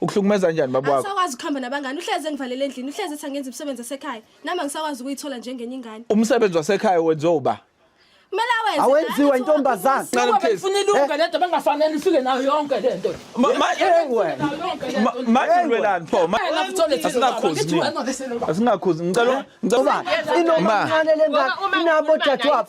Ukuhlukumeza kanjani baba wakho? Asakwazi ukuhamba nabangani, uhleze engivalele endlini, uhleze ethi angenza umsebenzi wasekhaya. Nami angisakwazi ukuyithola njengenye ingane. Umsebenzi wasekhaya wenziwa uba. Kumele awenze. Awenziwa intombazane. Ngoba befuna ilunga lento bengafanele ifike nayo yonke lento. Makulwelani pho? Asinakhuzi. Asinakhuzi. Ngicela ngicela. Inomancane lengane inabo dadewabo.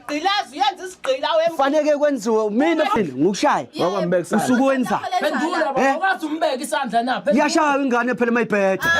Gqilazi uyenza isigqila wemfana. Faneke kwenziwe mina phela ngikushaya. Wakwambeka isandla. Usuku wenza. Phendula Eh? baba wazi umbeka isandla na. Phendula. Yashaya ingane phela mayibheda.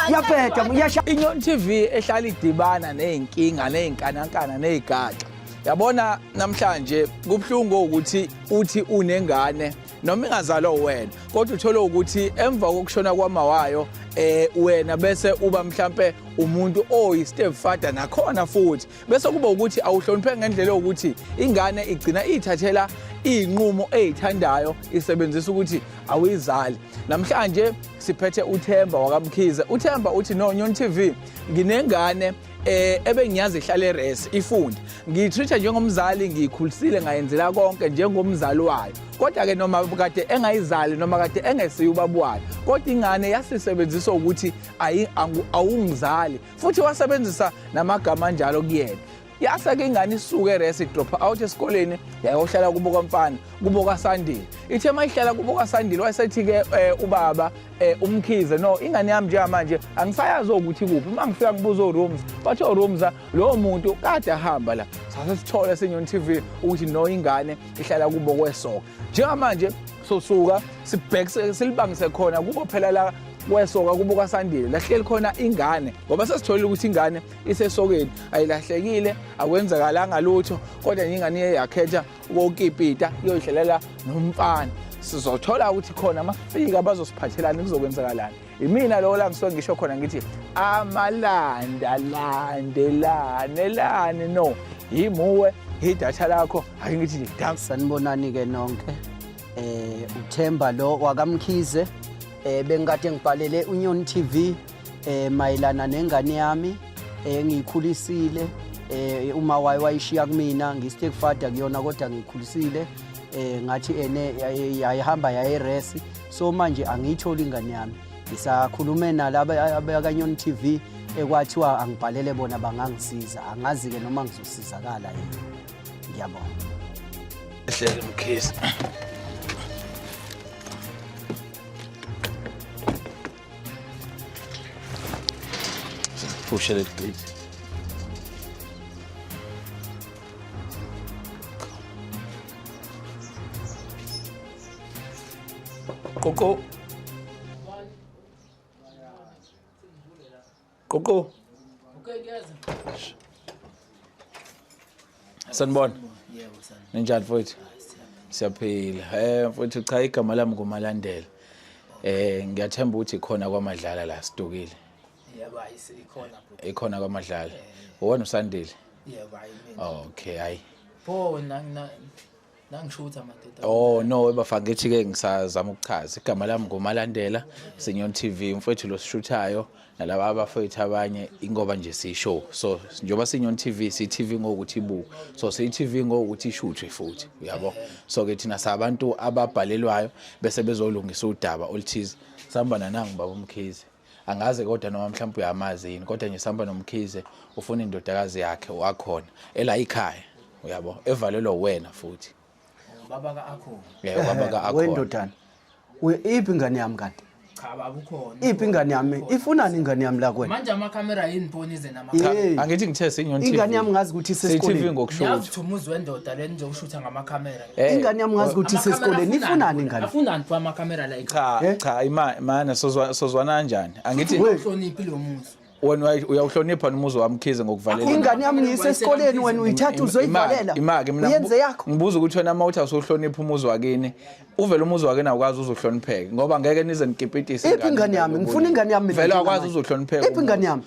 Yabheda yashaya. Inyon TV ehlala idibana nezinkinga nezinkanankana nezigaxa. Yabona namhlanje kubhlungu ukuthi uthi unengane noma ingazalwa wena kodwa uthole ukuthi emva kokushona kwamawayo eh wena bese uba mhlambe umuntu oyi stepfather nakhona futhi bese kuba ukuthi awuhloniphe ngendlela yokuthi ingane igcina iyithathela iy'nqumo eyithandayo isebenzisa ukuthi awuyizali namhlanje siphethe uthemba wakamkhize uthemba uthi no nyon tv nginengane eh ebengiyazi ihlale res ifunde ngiyitreat njengomzali ngiyikhulisile ngayenzela konke njengomzali wayo kodwa ke noma kade engayizali noma kade engesiye ubaba wayo kodwa ingane yasisebenzisa ukuthi awungizali futhi wasebenzisa namagama anjalo kuyena yasake ingane isuke eresi idropha out esikoleni yayohlala kubo kwamfana kubo kwasandile ithe uma ihlala kubo kwasandile wayesethi-ke um eh, ubaba um umkhize no ingane yami njengamanje angisayazi ukuthi kuphi uma ngifika ngibuza orooms bathi orooms lowo muntu kade ahamba la sase sithole esenyoni tv ukuthi no ingane ihlala kubo kwesoka njengamanje sosuka sibhekise silibangise khona kubo phela la kwesoka kubo kwasandile lahleli khona ingane ngoba sesitholile ukuthi ingane isesokeni ayilahlekile akwenzakalanga lutho kodwa ingane iye yakhetha ukokipita iyoyidlalela nomfana sizothola ukuthi khona mafika bazosiphathelani kuzokwenzakalani Imina lowo la ngisuke ngisho khona ngithi amalanda landelane lani no yimuwe idatha lakho ake ngithi nje dam sanibonani-ke nonke eh uthemba lo wakamkhize eh bengikade ngibhalele unyoni tv eh mayelana nengane yami eh ngiyikhulisile eh uma waye wayishiya kumina ngistake father kuyona kodwa ngiyikhulisile eh ngathi ene yayihamba yayeresi so manje angiyitholi ingane yami ngisakhulume nalaba abakanyoni t v ekwathiwa angibhalele bona bangangisiza angazi-ke noma ngizosizakala yini ngiyabona ehlele mkhisi Puxa ele please. Qoqo. Qoqo. Okay, guys. Sanibona. Yebo, sanibona. Ninjani mfowethu? Siyaphila. Eh mfowethu cha igama lami nguMalandela. Eh ngiyathemba ukuthi khona kwamadlala la sidukile. Yebo, ikhona bro. Ikhona kwamadlala. Uwona usandile. Yebo, hayi mina. Okay, hayi. Pho na nangisho ukuthi amadoda oh no webafakithi ke ngisazama ukuchaza igama lami ngumalandela senyon tv umfowethu lo sishuthayo nalaba abafowethu abanye ingoba nje siyishow so njengoba senyon tv siyi-tv ngokuthi ibu so siyi-tv ngokuthi ishuthwe futhi uyabo so ke thina sabantu ababhalelwayo bese bezolungisa udaba oluthize sihamba nanangu baba umkhize angazi kodwa noma mhlawumbe uyamazi yini kodwa nje sihamba nomkhize ufuna indodakazi yakhe wakhona ela ikhaya uyabo evalelwa wena futhi ubaba ka akhona yeah ubaba ka akhona wendodana iphi ingane yami kanti cha babukhona iphi ingane yami ifunani ingane yami la kwena manje ama camera yini phone ize nama angithi ngithe senyon TV ingane yami ngazi ukuthi isesikoleni TV ngokushutha ngiyazithumuza wendoda leni nje ushutha ngama camera Eh, ingane yami ngazi ukuthi isesikoleni ifunani ingane afunani kwa ama camera la cha eh? cha ima mana sozwa sozwana kanjani angithi uhloniphi lo muzi wena uyawuhlonipha nomuzi wami khize ngokuvalela ingane yami ngiyise esikoleni wena uyithatha uzoyivalela imake mina yenze yakho ngibuza ukuthi wena mawuthi awusohlonipha umuzi wakini uvela umuzi wakini awukwazi uzohlonipheka ngoba ngeke nize nikipitise iphi ingane yami ngifuna ingane yami vele awukwazi uzohlonipheka iphi ingane yami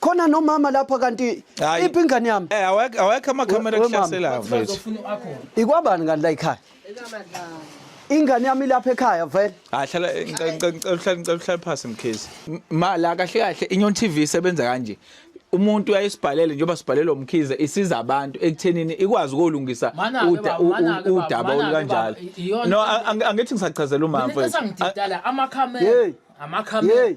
khona nomama lapha kanti Hayi. iphi ingane yami Eh awekho awekho ama camera We- we mama. kuhlaselayo mfethu. ikwabani kanti la ikhaya ingane yami ilapha ekhaya vele Hayi hlala ngicela ngicela- ngicela uhlale ngicela uhlale phansi mkhizi. Ma la kahle kahle Inyon TV isebenza kanje. Umuntu uyayisibhalele njengoba sibhalelwa umkhize isiza abantu ekuthenini ikwazi ukolungisa Manake uda- baba, u- u- manake baba, udaba manake olukanjalo. baba, iyona- No ang- ang- angithi ngisachazela umama Mina mfethu. esangididala amakhamera Yey. amakhamera Yey.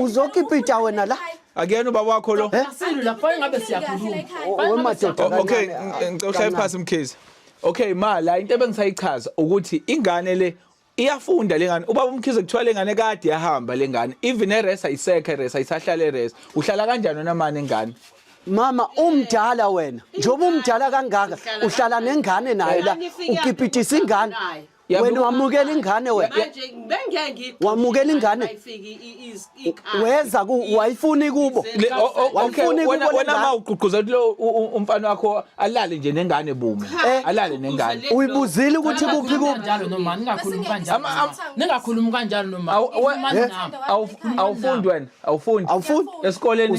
uzokipita wena la akuyena ubaba wakho lo eh? okay ngicela uhlale phansi mkhize okay ma la into ebengisayichaza ukuthi ingane le iyafunda lengane ubaba umkhize kuthiwa lengane kade yahamba lengane even eresa isekhe eresa isahlala eresa uhlala kanjani wena mane ngane mama umdala wena njengoba umdala kangaka uhlala nengane naye la ukipitisa ingane wena wamukela ingane wena wamukela ingane weza wayifuni kubo wayifuni kubo wena ma ugqugquzela lo umfana wakho alale nje nengane bume eh, alale nengane uyibuzile ukuthi kuphi kuphi ningakhulumi kanjalo noma awufundi wena awufundi awufundi esikoleni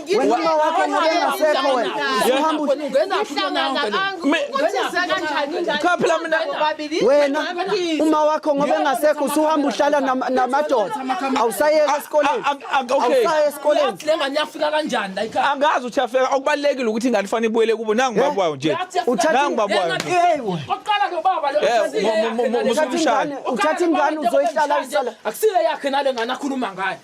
Wena wakho ngengasekho wena. Uhambe Cha phela mina wena uma wakho ngoba engasekho usuhamba uhlala namadoda. Awusayeka esikoleni. Awusayeka esikoleni. Lenga niyafika kanjani la ikhaya? Angazi uthi afika okubalekile ukuthi ingane fanele ibuyele kubo nangu eh? babwayo nje. Nangu babwayo. Oqala nobaba lo. Uthatha ingane uzoyihlala ihlala. Akusile yakhe nale ngane akhuluma ngayo.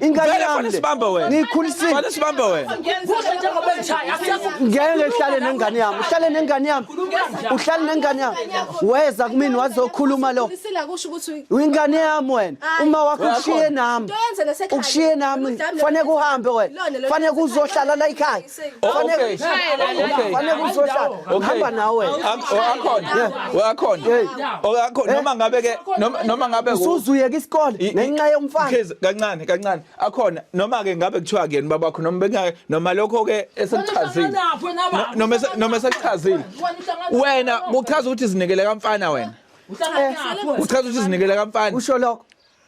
Ingane Vele yami fana le. sibambe wena. Ngiyikhulisile. Fana sibambe wena. Kusho njengoba engishaya asiyazi Ngeke ngihlale nengane yami. Uhlale nengane yami. Uhlale nengane yami. Weza kumina wazokhuluma lo. Ulisila kusho ukuthi Ingane yami wena. Uma wakho Wena ukushiye khona. nami. Into yenze nasekhaya. Ukushiye nami. Udlame Fanele uhambe wena. Lona lo- Fanele uzohlala la ekhaya. Okay. Fanele uzohlala. Ngihamba nawe. Akhona. Akhona. Akhona noma ngabe ke noma ngabe usuzuyeka isikole ngenxa yomfana. Kids kancane kancane. Akhona noma ke ngabe kuthiwa kuyena babakho noma bengake noma lokho ke esekuchazile. Noma noma esekuchazile. Wena kuchaza ukuthi izinikele kamfana wena. Uchaza ukuthi izinikele kamfana. Usho lokho.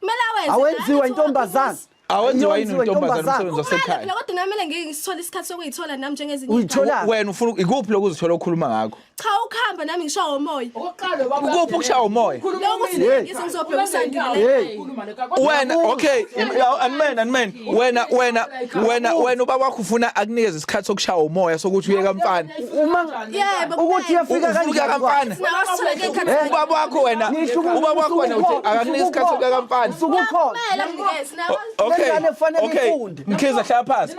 Kumele awenze. Awenziwa intombazane. Awenziwa yini intombazane umsebenzi wasekhaya? Lokho kodwa namele ngeke ngisithole isikhathi sokuyithola nami njengezinye. Uyithola. Wena ufuna ikuphi lokho uzithola okhuluma ngakho? Cha ukuhamba nami ngishawa womoya. Oqale baba. Ukuphi ukushawa womoya? Lokho singizobheka usandile. Wena okay. Amen amen. wena wena wena wena ubaba wakho ufuna akunikeze isikhathi sokushaya umoya sokuthi uye kamfana uma ukuthi yafika kanjani kamfana ubaba wakho wena ubaba wakho wena uthi akakunikeze isikhathi sokuya kamfana usukukhona okay okay mkhiza hlala phansi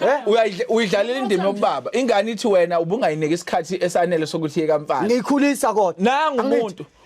eh? uyidlalela indima yobaba ingane ithi wena ubungayiniki isikhathi esanele sokuthi iye kamfana ngikhulisa kodwa nangu umuntu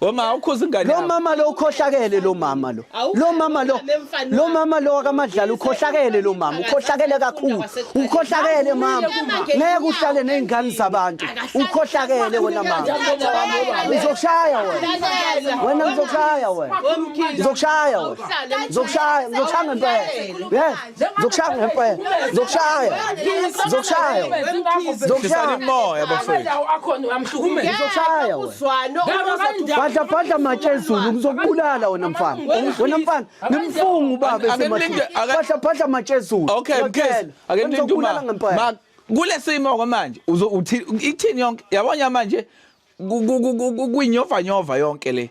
Wema ukhuza ingane Lo yakho. mama lo ukhohlakele lo mama lo. Awukho- Lo mama lo. nemfana Lo mama lo akamadlala ukhohlakele lo mama. Ukhohlakele kakhulu. Ukhohlakele mama. Ngeke uhlale nezingane zabantu. Ukhohlakele wena mama. Ngizokushaya wena. Wena ngizokushaya wena. Ngizokushaya wena. Ngizokushaya, ngizokushaya ngempela. Yes. Zokushaya ngempela. Zokushaya. Zokushaya. Zokushaya imoya bafethu. Akhona uyamhlukumeza. Zokushaya. Uzwano. Badla badla matshe ezulu ngizokubulala wena mfana. Wena mfana ngimfunga ubaba esemathini. Badla badla matshe ezulu. Okay, mkhize. Ake nilinde uma. Ma kulesimo kwamanje uzothi ithini yonke yabona manje kwinyova nyova yonke le.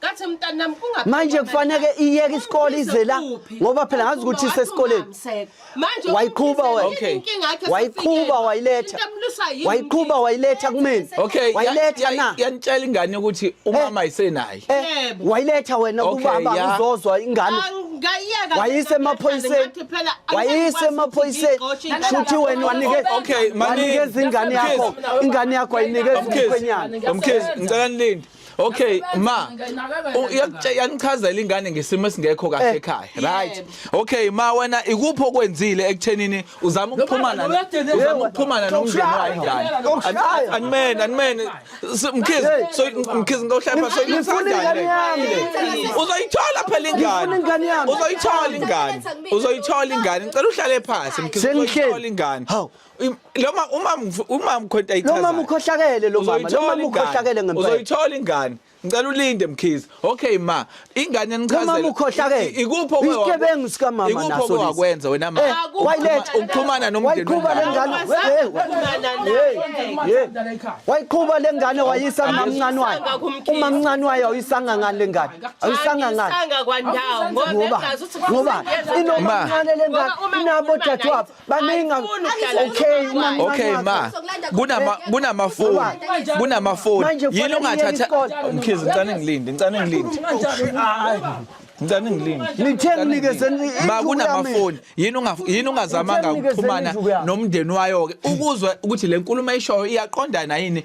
Kathi mntanami kungaphela. Manje kufanele iyeke isikole ize la ngoba phela ngazi ukuthi isesikoleni. Manje wayiqhuba okay. Wayiqhuba wayiletha. Wayiqhuba wayiletha kumina. Okay. Wayiletha na. Yanitshela ingane ukuthi eh. umama isenayi. Eh. Yebo. Wayiletha wena kubaba uzozwa ingane. Ngayiyeka. Wayise emaphoyiseni. Wayise emaphoyiseni. Shuthi wena wanike okay manje ingane yakho ingane yakho ayinikeza umkhwenyana. Umkhezi ngicela nilinde. okay ma yanichazela ingane ngesimo esingekho kahle eh, ekhaya right okay ma wena ikuphi okwenzile ekutheni uzama ukuxhumana uzama ukuxhumana nomndeni wayo njani angimen angimen mkhiz so mkhiz ngohlapha so uzoyithola phela ingane uzoyithola ingane uzoyithola ingane ngicela uhlale phansi mkhiz uzoyithola ingane loma umama umama ukhonta ichaza loma mukhohlakele lo mama loma mukhohlakele ngempela uzoyithola ingane ngicela ulinde mkhize okay ma ingane enichazela loma mukhohlakele ikupho kwe isigebengu sika mama naso ikupho kwe wakwenza wena ma eh, wayiletha ukuxhumana nomndeni wayiqhuba lengane wayiqhuba lengane wayisa umamncane wayo umamncane wayo awuyisanga ngani lengane awuyisanga ngani ngoba ngoba inomamncane lengane inabo dadewabo baningi okay mama okay ma kunama kunamafoni kunamafoni yini ongathatha mkhizi ngicane ngilinde ngicane ngilinde ngicane ngilinde lithe nginikeze ma kunamafoni yini unga yini ungazamanga ukuxhumana nomndeni wayo ke ukuzwa ukuthi le nkulumo ayishoyo iyaqondana yini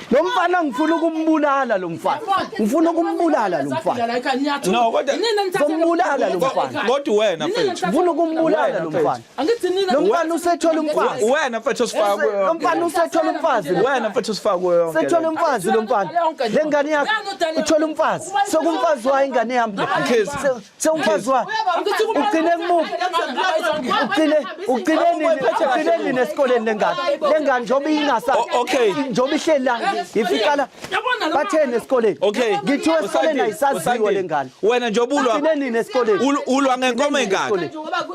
Lo mfana ngifuna ukumbulala lo mfana. Ngifuna ukumbulala lo mfana. No kodwa sombulala lo mfana. Kodwa wena mfethu. Ngifuna ukumbulala lo mfana. Angithi nina lo mfana usethola umfazi. Wena mfethu usifaka kuyo. Lo mfana usethola umfazi. Wena mfethu usifaka kuyo yonke. Sethola umfazi lo mfana. Le ngane yakho uthola umfazi. Sokumfazi wayo ingane yami. Mkhize. sewumfazi wakhe ugcine kumuphi ugcine ugcine nini ugcine nini esikoleni lengane lengane njengoba ingasa okay njengoba ihleli la ifika la bathene esikoleni okay ngithiwe esikoleni ayisaziwe lengane wena njengoba ulwa ugcine nini esikoleni ulwa ngenkomo engaka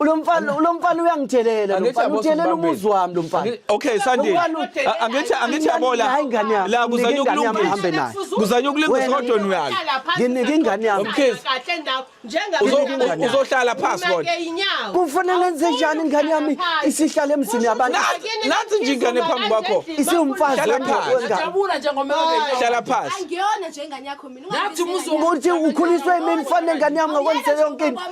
Lo mfana lo mfana uyangithelela lo mfana uthelela umuzi wami lo mfana. Okay Sandile. Angithi angithi yabola. La kuzanya ukulungisa. Kuzanya ukulungisa kodwa nuyalo. Nginike ingane yami. Kahle ndawo njengabe uzohlala phansi kodwa. Kufanele ngenze njani ingane yami isihlale emzini yabantu. Nathi nje ingane phambi kwakho. Isiwumfazi wengane. Jabula njengomuntu. Hlala phansi. Angiyona nje ingane yakho. ngathi umuzi ukuthi ukhuliswe yimini fanele ngane yami ngakwenzela yonke into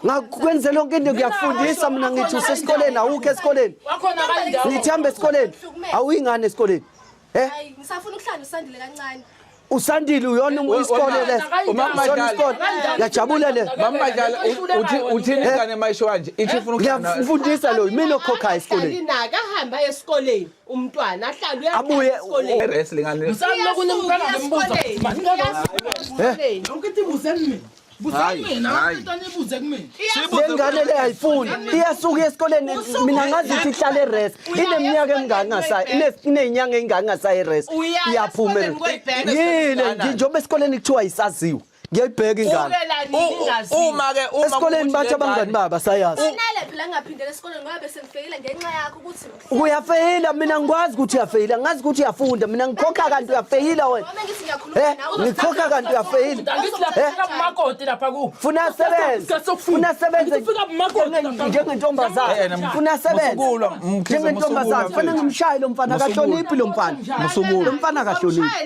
ngakwenzela yonke into ngiyakufundisa mina ngithi usesikoleni awukho esikoleni ngithi hambe esikoleni awuyingane esikoleni eh ngisafuna ukuhlala usandile kancane usandile uyona isikole leso usona isikole ngiyajabula le mamajala uthi uthini ingane mayisho kanje ithi ufuna ukuhlala ngiyafundisa lo mina okhokhayo esikoleni inaka hamba esikoleni umntwana ahlale uyabuye esikoleni wrestling ngani msami lokunye umntwana ngembuza eh yonke into ibuze mina lengane le ayifuni iyasuka esikoleni mina ngazi ukuthi ihlale res ineminyaka emingaki ngasayo iney'nyanga ey'ngaki ngasayo res iyaphuma yile nje njengoba esikoleni kuthiwa yisaziwe ngiyayibheka ingane uma ke uma esikoleni bathi abangani baba sayazi unele phela ngaphindela esikoleni ngoba bese ngifeyila ngenxa yakho ukuthi uyafeyila mina ngikwazi ukuthi uyafeyila ngazi ukuthi uyafunda mina ngikhokha kanti uyafeyila wena eh ngikhokha kanti uyafeyila ngithi lapha eh? kumakoti lapha ku funa sebenze funa sebenze fika kumakoti njengentombazana eh, funa sebenze njengentombazana funa ngimshaye lo mfana akahloniphi lo mfana lo mfana akahloniphi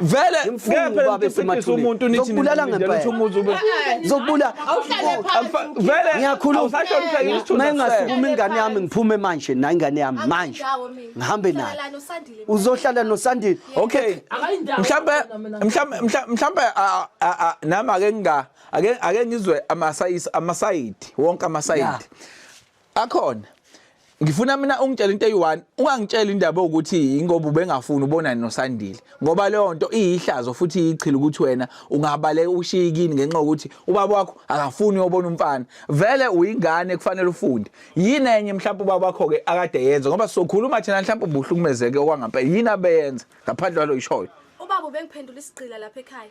vele ngempela niqinisekisa umuntu nithi nibulala ngempela uthi umuzi ube zokubula vele ngiyakhuluma usasho ngipheke isithunzi mengasukuma ingane yami ngiphume manje na ingane yami manje ngihambe nayo uzohlala nosandile okay mhlambe mhlambe mhlambe nami ake nginga ake ake ngizwe amasayisi amasayidi wonke amasayidi akhona ngifuna mina ungitshela into eyi-one ungangitshela indaba ukuthi ingoba ubengafuni ubonani nosandile ngoba leyo nto iyihlazo futhi iyichile ukuthi wena ungabaleka ushiye kini ngenxa yokuthi ubaba wakho akafuni uyobona umfana vele uyingane kufanele ufunde yini enye mhlawumbe ubaba wakho-ke akade yenza ngoba sokhuluma thina mhlawumbe ubuhlukumezeke okwangampela yini abeyenza ngaphandle kwalo yishoyo ubaba ubengiphendula isigqila lapha ekhaya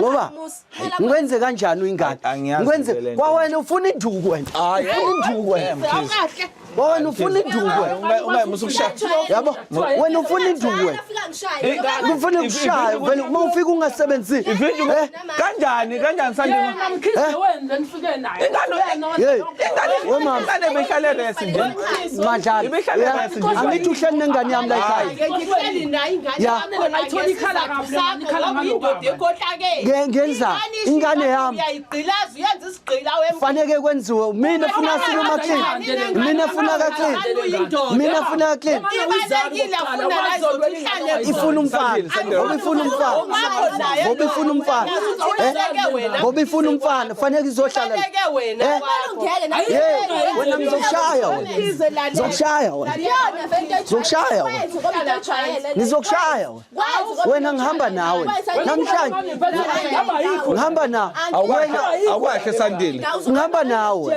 ngoba ngikwenze kanjani uyingane ngikwenze kwawena ufuna induku wena ufuna induku wena wena ufuna induku wena yabo wena ufuna induku wena ufuna ukushaya uma ufika ungasebenzisi eh? kanjani kanjani sandima eh? ingane behlale rest nje madlala angithi uhleli nengane yami la ekhaya ngenza ingane yami faneke kwenziwe mina funa siluma clean mina funa ka clean mina funa ka clean ifuna umfana ngoba ifuna umfana ngoba ifuna umfana ngoba ifuna umfana fanele izohlala wena ngizokushaya wena ngizokushaya wena ngizokushaya wena ngizokushaya wena wena ngihamba nawe namhlanje ngihamba nawe awukahle sandile ngihamba nawe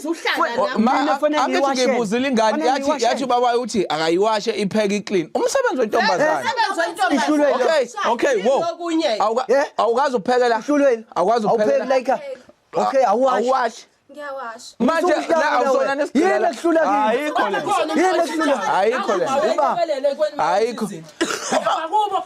angithi ngibuzile ingane yathi yathi ubaba uthi akayiwashe ipheke iclean umsebenzi wentombazane okay okay wo awukazi uphekela awukazi uphekela okay awuwashi ngiyawasha manje la awusona nesidela kuhlula kimi ayikho le ayikho le ayikho akubo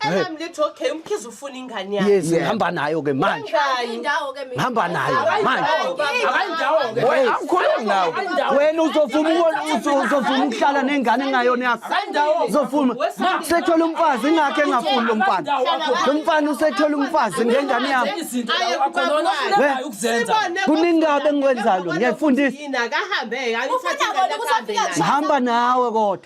Anami lithi okay umkhize ufuna ingane yakhe. Yes, ngihamba nayo ke manje. Indawo ke mina. Ngihamba nayo manje. Akayindawo ke. Wena awukhulumi nawe. Wena uzofuma ukona uzofuma ukuhlala nengane engayona yakho. Akayindawo. Uzofuma. Sethola umfazi ingakhe engafuni lo mfana. Lo mfana usethola umfazi ngengane yami. Kuningabe ngikwenzayo lo. Ngiyafundisa. Yina kahambe ayithathe ingane kahambe. Ngihamba nawe kodwa.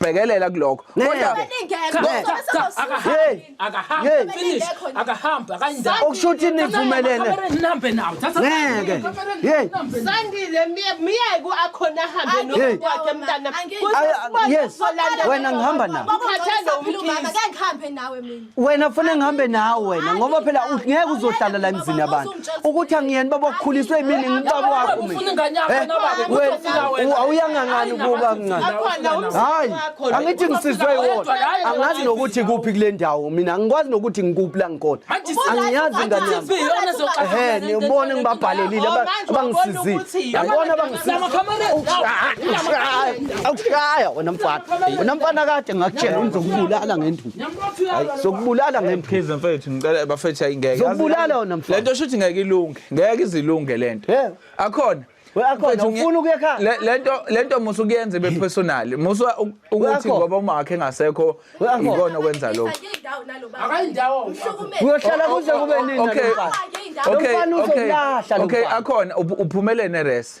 bhekelela kulokho kodwa okusho ukuthi nivumelene wena ngihamba nawe wena funa ngihambe nawe wena ngoba phela u- ngeke uzohlala la emzini yabantu ukuthi angiyeni baba ukhuliswe yimini ngibaba wakho mina Ufuna ingane yakho Eh, na baba, ukuthi wena, ufuna wena. u- awuyangangani Hayi, kuba nabazali mncane bakho Akhona wena. umzali hayi wakho lo. angithi ngisizwe Ufuna iwona wedwa, hayi, angazi wena. nokuthi kuphi kule ndawo mina angikwazi nokuthi ngikuphi la ngikhona Manje si- angiyazi Manje ingane yami TV yona ezoxaka ehe ngane into nibone engane ngibabhalelile Oh, aba- manje wabona abangisizile ukuthi yini. yabona abangisizile Lama cameras, Ukushaya, ukushaya, ukushaya wena mfana wena mfana kade ngakutshela ngizokubulala ngenduku Hayi, sokubulala ngemphi Mkhize mfethu ngicela bafethu ayingeke. Zokubulala wena mfana. Lento shuthi ngeke ilunge. Ngeke izilunge lento. Yeah. Akhona. We, akhona, Mfethu, nge- ufuna ukuya ekhaya? Le- Lento lento musa ukuyenza ibe personal. Musa u- ukuthi akhona. ngoba umakhe ngasekho We, akhona. ikona okwenza lokho. Akayindawo. uyohlala kuze kube nini Okay. nalomfana Okay. Lomfana Okay. uzolahla lo Okay, mfana. akhona uph- uphumelele neresi.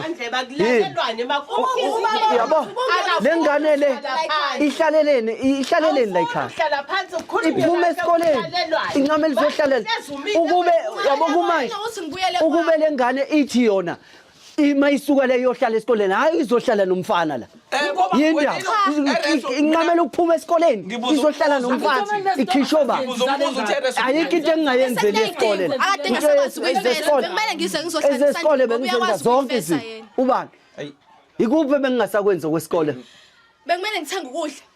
yabo le ngane le ihlaleleni ihlaleleni la ikhaya iphume esikoleni incama elizohlalela ukube yabo kumanje ukube le ngane ithi yona ima isuka le yohlala esikoleni hayi izohlala nomfana la inqamela ukuphuma esikoleni izohlala nomfana ikhishoba ayikho into engingayenzeli esikoleni ezesikole bengizenza zonke izinto ubani ikuphi bengingasakwenzi okwesikole bekumele ngithenge ukudla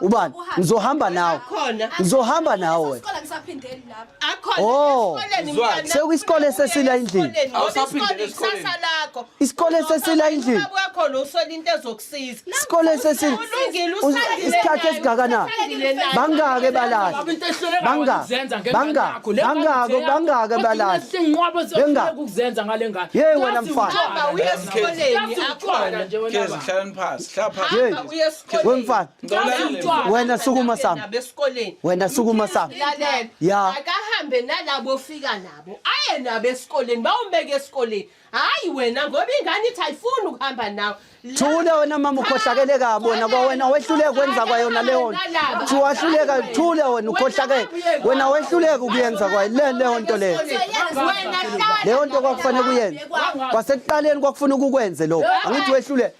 ubani ngizohamba nawe ngizohamba nawe oh sekuyisikole sesila endlini isikole sesila endlini isikole sesila isikhathi esingakanani bangake balala bangake bangake bangake bangake balala bengake yeyi wena mfana wemfana wena sukuma sami wena sukuma sami ya akahambe nalabo fika nabo aye nabo esikoleni bawumbeke esikoleni hayi wena ngoba ingane ithi ayifuni ukuhamba nawe thule wena mama ukhohlakele kabi wena kwawena wehluleka kwenza kwayona leyo nto wahluleka thule wena ukhohlakele wena wehluleka ukuyenza kwayo le leyo nto leyo leyo nto kwakufanele kuyenze kwasekuqaleni kwakufuna ukukwenze lokho angithi wehluleka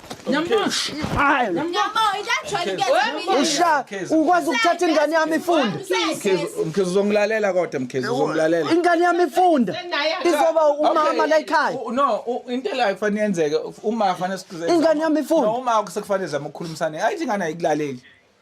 usha ukwazi ukuthatha ingane yami ifunda mkhizi uzongilalela kodwa mkhizi uzongilalela ingane yami ifunda izoba umama la ekhaya no into la kufanele yenzeke uma kufanele siqhubeke ingane yami ifunda uma sekufanele zama ukukhulumisana ayithi ingane ayikulaleli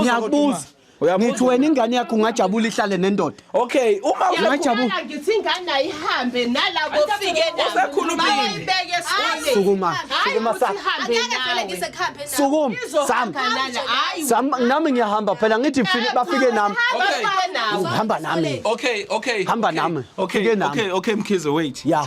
Ngiyakubuza ngithi wena ingane yakho ungajabula ihlale nendoda okay uma ungajabula ngithi ingane ayihambe nalabo fike nayoyibeke sukuma sukuma sukuma sam sam nami ngiyahamba phela ngithi bafike nami hamba nami okay okay hamba nami okay okay okay mkhize wait yeah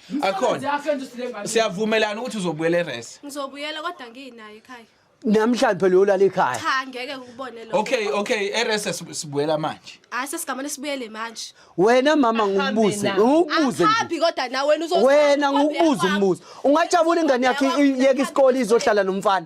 Msebenzi Akhona. afenze usilenga. Siyavumelana ukuthi uzobuyela eRes. Ngizobuyela kodwa nginayo ekhaya. Namhlanje phela uyolala ekhaya. Cha ngeke ukubone lokho. Okay, okay, eRes sib- sibuyela manje. Hayi sesigamane sibuyele manje. Wena mama ngikubuze, Ahambe na. ngikubuze nje. Angiphambi kodwa nawe wena uzothi. Wena ngikubuze umbuzo. Ungajabula ingane yakhe iyeke isikole izohlala nomfana.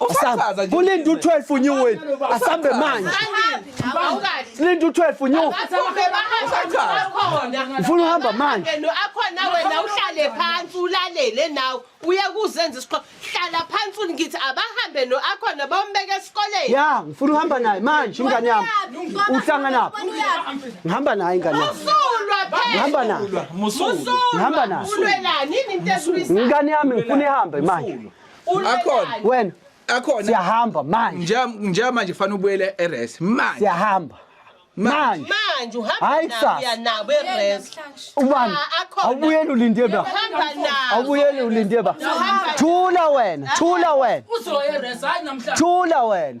Usachaza nje. Kulinde u-12 new win. Asambe manje. Kulinde u-12 new. Ufuna uhamba manje. Akhona wena uhlale phansi ulalele nawe. Uye kuzenza isiqoqo. Hlala phansi ungithi abahambe no akhona bombeke esikoleni. Ya, ngifuna uhamba naye manje ingane yami. Uhlangana phi? Ngihamba naye ingane yami. Usulwa phela. Ngihamba naye. Musulwa. Ngihamba naye. Ulwelani into esulisa. Ingane yami ngifuna ihambe manje. akhona wena akhona siyahamba manje nje manje kufanele ubuyele eres manje siyahamba manje manje uhamba uya nabo eres ubani ah, awubuyele ulinde ba awubuyele ulinde ba thula wena thula wena uzoya eres hayi namhlanje thula wena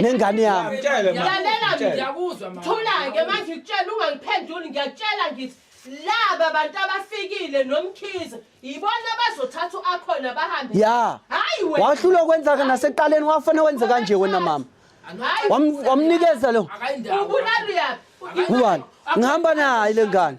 nengane yami lalela ngiyakuzwa mama thula-ke manje ngikutshela ungangiphenduli ngiyakutshela ngithi laba bantu abafikile nomkhize yibona abazothatha u-akhona bahambe ya hayi wena wahlulwa ukwenzaka naseqaleni wafane wenze kanje wena mama Hayi, Wam- wamnikeza lo akayindawo ubulala uyaphi ubani ngihamba naye le ngane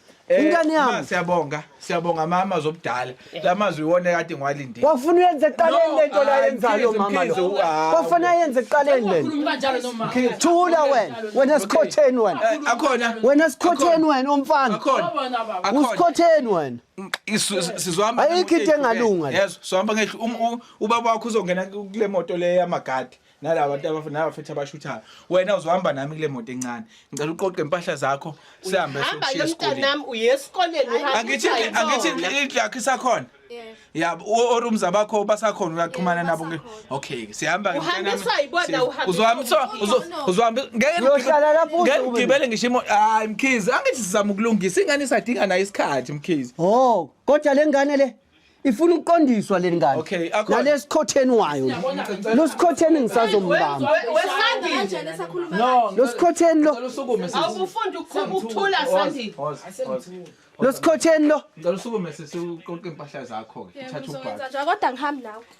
Eh, Ingane yami. Ma, siyabonga siyabonga mama zobudala la mazwi iwona kade ngiwalindile Wafuna uyenze eqaleni le nto la No, yenzayo Mkhize, mama Mkhize, lo. u- ah, Wafuna ayenze eqaleni le nto. Ukhuluma kanjalo nomama. Thula wena. Wena sikhotheni wena. Eh, akhona Wena sikhotheni wena umfana. akhona Wabona baba. akhona Usikhotheni wena. Isu- si- sizohamba Ayikho ngemoto into engalunga ehlukene. la. Yezwa, sizohamba ngehlu um- u- ubaba wakho uzongena kule moto le yamagadi nalaba bantu abaf- nabafethu abashuthayo wena uzohamba nami kule moto encane ngicela uqoqe impahla zakho sihambe hamba ke siyoshiya esikoleni mntanami uye esikoleni uhamba angithi usayibona. angithi indlu yakho isakhona Yebo. yabo orumza bakho basakhona uyaxhumana Yebo, nabo nge- basakhona. okay ke sihamba ke Uhamba mntanami. usayibona, Si- uhamba uzohamba usayibona. uzo- uzo- No, no. uzohamba ngeke Uyohlala lapho ngeke uzobe. ngigibele ngisho imo hayi mkhizi angithi sizama ukulungisa ingane isadinga nayo isikhathi mkhizi Oh, kodwa lengane le ifuna ukuqondiswa le ngane Okay, akhona. nalesikhotheni wayo lo sikhotheni ngisazombamba lo sikhotheni lo Ngicela usukume sisi. awubufundi uqhuba ukuthula sandile lo sikhotheni lo Ngicela usukume sisi uqoqe impahla zakho ke. Uthathe ubhaka. kodwa ngihambi nawe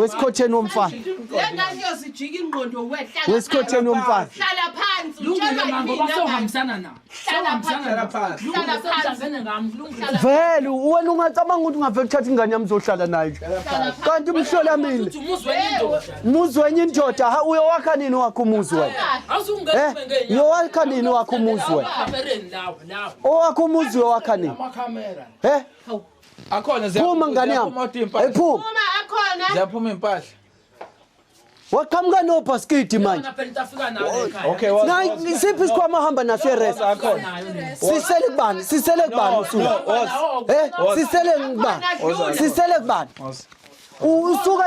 wesikhotheni womfana wesikhotheni womfana hlala phansi vele wena ungacabanga ukuthi ungavele uthatha ingane yami uzohlala nayo kanti umhlola mina muzi wenye indoda ha uyowakha nini wakho umuzi wena eh, uyowakha nini wakho umuzi wena owakho umuzi uyowakha nini eh Akhona ziyaphuma Phuma ngane yami. ziyaphuma kodwa impahla. Ayiphuma. Uma akhona Ziyaphuma impahla. Waqhamuka no baskidi manje. Yona phela utafika nawe ekhaya. Okay, wa- Na isiphi isikhwama hamba naso rest. Akhona. Sisele kubani? Sisele kubani No, usula? no, was. Eh, sisele kubani? Sisele kubani? Was. usuke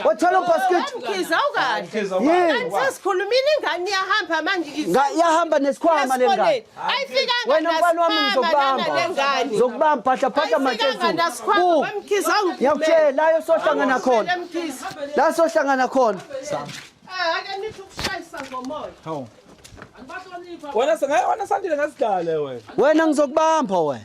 wathwala ubhasketi mkhize awukahle kanti sesikhulumile ingane iyahamba manje iyahamba nesikhwama le ngane wena mfana wami ngizokubamba ngizokubamba phahla phahla matezulu ngiyakutshela la yosohlangana khona la sohlangana khona ah, ake nithi ukushayisa ngomoya wena sengayona sandile ngasidale wena wena ngizokubamba wena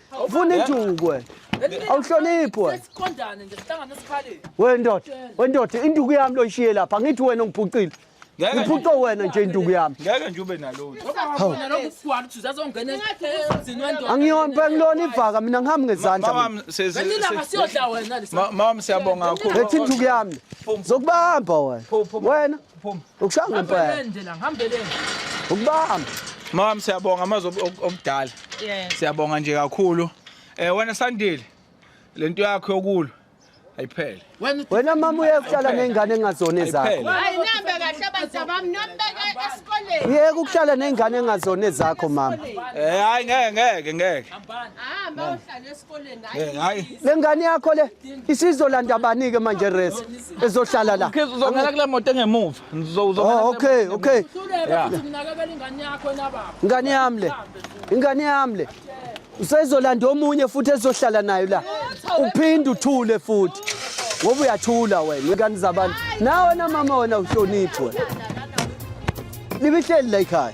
Ufuna induku wena. Awuhloniphi wena. Sesiqondane nje sihlangana esikhaleni. Wena ndoda, wena ndoda induku yami loyishiye lapha. Angithi wena ungiphucile. Ngiphuce wena nje induku yami. Ngeke nje ube nalutho. Wabona lokho kukwala ukuthi uzazongena ezini wendoda. Angiyona bengilona ivaka mina ngihambi ngezandla. Mama sezilanga siyodla wena lesa. Mama siyabonga kakhulu. Ethi induku yami. Zokubamba wena. Wena Phuma. Ukushaya ngempela. Hambeleni nje la, hambeleni. Ukubamba. Mama siyabonga amazwi obudala. Yeah. Siyabonga nje kakhulu. Eh wena Sandile lento yakho yokulwa ayiphele. Wena mama uyakuhlala nezingane engazona ezakho. Hayi nihambe kahle abantu abami nombeke esikoleni. Yeka ukuhlala nezingane engazona ezakho mama. Eh hayi ngeke ngeke ngeke. Hamba uhlale esikoleni. Eh, Hayi. Lengane yakho le Isizolanda bani ke manje race ezohlala la? Ukhizi uzongena kule moto engemuva. Uzongena. Oh okay okay. Yeah. Ngani yami le. Ingane yami le. Usezolanda omunye futhi ezohlala nayo la. Uphinde uthule futhi. Ngoba uyathula wena ingane zabantu. Nawe na mama wena uhloniphi wena. Libihleli la ekhaya.